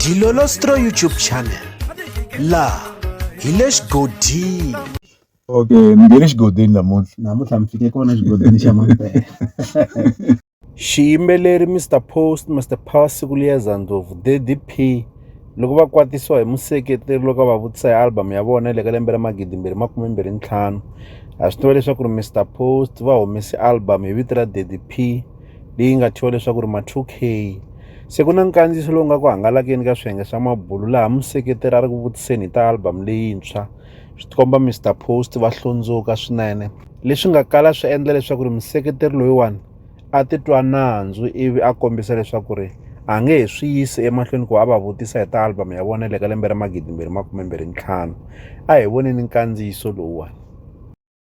Dilolostro YouTube channel la hi le xigodini okay ni nge le xigodini namuntlha namuntlha mi fike kona xigodini xa mampela xiyimbeleri mr post mr power siku liyeza ndlopfu ddp loko va kwatisiwa hi museketeri loko a va vutisa hi album ya vona le ka lembe ra magidi mbirhi makume mbirhi ntlhanu ha swi tiva leswaku ri mr post va humese album hi vito ra ddp leyi nga thyiwa leswaku ri ma-2K se ku na nkandziyiso lowu nga ku hangalakeni ka swiyenge swa mabulu laha museketeri a ri ku vutiseni hi ta album leyintshwa swi tikomba Mr Post va hlundzuka swinene leswi nga kala swi endla leswaku ri museketeri loyiwani a titwa nandzu ivi a kombisa leswaku ri a nge he swi yisi emahlweni ku va a va vutisa hi ta album ya vona le ka lembe ra magidi mbirhi makume mbirhi ntlhanu a hi voneni nkandziyiso lowuwani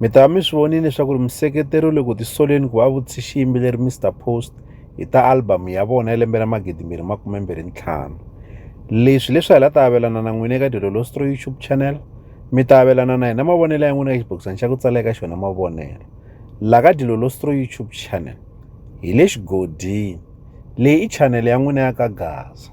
Mi ta va mi swi vonile leswaku ri museketeri le ku tisoleni ku va vutise xiyimbeleri Mr Post hi ta albhamu ya vona ya lembe ra magidi mbirhi makume mbirhi ntlhanu leswi leswi hi la ta avelana na n'wina eka dilolostro youtube channel mi ta avelana na hina mavonelo ya n'wina ka xibokisana xa ku tsala eka xona mavonelo la ka dilolostro youtube channel hi le xigodini leyi i chanele ya n'wina ya ka gaza